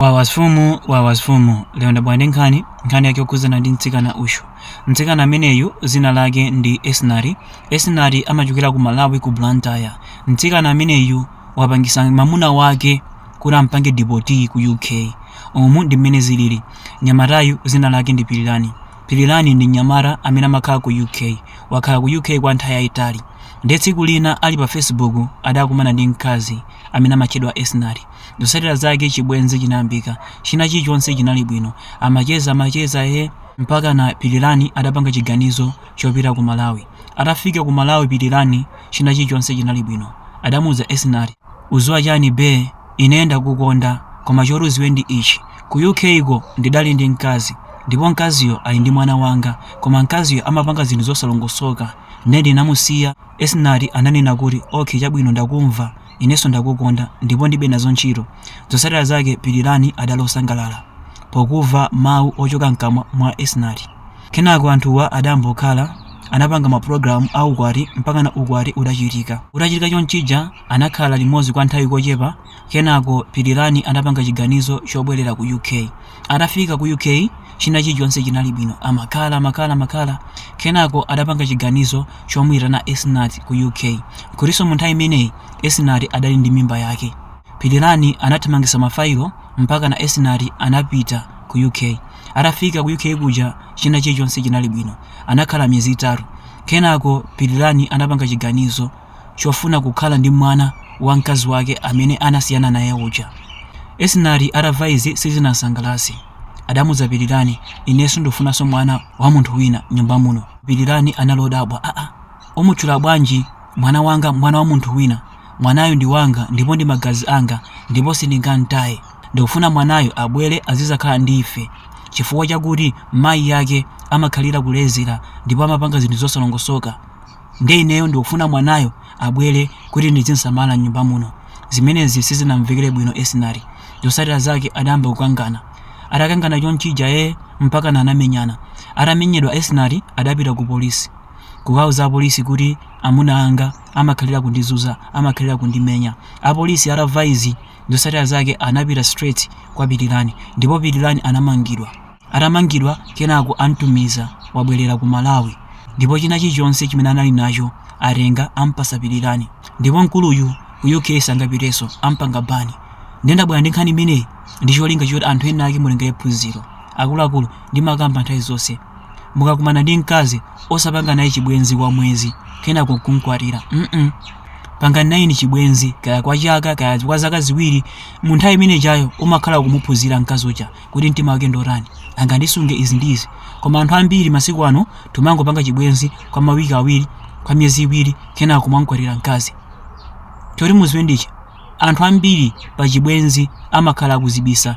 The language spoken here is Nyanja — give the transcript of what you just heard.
wawa mfumu wawa mfumu lero ndabwera ndi nkhani nkhani yake yokhudzana ndi mtsikana uyu mtsikana ameneyu dzina lake ndi esnati esnati amachokera ku malawi ku blantyre mtsikana ameneyu wapangisa mamuna wake kuti ampange dipoti ku uk umu ndi mmene zilili nyamatayu dzina lake ndi pilirani pilirani ndi nyamata amene amakhala ku uk wakhala ku uk kwa nthawi yayitali ndiye tsiku lina ali pa facebook adakumana ndi mkazi amene amatchedwa esnati Zotsatira zake chibwenzi chinayambika. China chilichonse chinali bwino. Amacheza amacheza eeh mpakana Pilirani adapanga chiganizo chopita ku Malawi. Atafika ku Malawi Pilirani china chilichonse chinali bwino. Adamuuza Esinati. Uziwa chani bee ineyo ndakukonda koma choti uziwe ndi ichi ku UK ko ndidali ndi mkazi ndipo mkaziyo ali ndi mwana wanga koma mkaziyo amapanga zinthu zosalongosoka nde ndinamusiya. Esinati ananena kuti okay chabwino ndakumva. Inenso ndakukonda ndipo ndibe nazo ntchito. Zotsatira zake Pilirani adali osangalala pokuva mawu ochoka mkamwa mwa Esinati. Kenako anthuwa adambokhala, anapanga ma program a ukwati mpakana ukwati udachitika. Utachitika chonchija anakhala limodzi kwa nthawi kochepa kenako Pilirani anapanga chiganizo chobwelera ku UK. atafika ku uk china chilichonse chinali bwino amakhala amakhala amakhala kenako adapanga chiganizo chomuyitana esnat ku uk kutinso mu nthawi imeneyi esnat adali ndi mimba yake pilirani anathamangisa mafailo mpakana esnat anapita ku uk atafika ku uk kuja china chilichonse chinali bwino anakhala miyezi itatu kenako pilirani anapanga chiganizo chofuna kukhala ndi mwana wa mkazi wake amene anasiyana naye uja. Esinati atamva izi sizinamsangalatse. Adamuuza Pilirani, ine sindikufunanso mwana wa munthu wina nyumba muno. Pilirani anali odabwa, aa, umutchula bwanji mwana wanga mwana wa munthu wina? Mwanayo ndi wanga ndipo ndi magazi anga ndipo sindingamtaye. Ndikufuna mwanayo abwere azizakhala ndi ife chifukwa chakuti mayi yake amakhalira kulezera ndipo amapanga zinthu zosalongosoka. ndiye ineyo ndikufuna mwanayo abwere kuti ndizimsamala m'nyumba muno zimenezi sizinamvekere bwino esinati zotsatira zake adayamba kukangana atakangana chonchija ee mpakana anamenyana atamenyedwa esinati adapita ku polisi kukauza apolisi kuti amuna anga amakhalira kundizunza amakhalira kundimenya apolisi atamva izi zotsatira zake anapita straight kwa pilirani ndipo pilirani anamangidwa atamangidwa kenako amtumiza wabwelera ku malawi ndipo china chichonse chimene anali nacho atenga ampasa pilirani ndipo mkuluyu ku uk sangapiteso ampanga bani nde ndabwera ndi nkhani imeneyi ndi cholinga choti anthu ena ake mutengere phunziro akuluakulu ndimakamba nthawi zonse mukakumana ndi mkazi osapanga naye chibwenzi kwa mwezi kenako nkumkwatira mm pangani naye chibwenzi kaya kwa chaka kaya kwa zaka ziwiri mu nthawi imeneyo umakhala ukumuphunzira mkazi uja kuti mtima wake ndotani angandisunge izi ndi izi koma anthu ambiri masiku ano timangopanga chibwenzi kwa mawiki awiri kwa miyezi iwiri kenako kumamkwatira mkazi choti muziwe ndichi anthu ambiri pa chibwenzi amakhala akuzibisa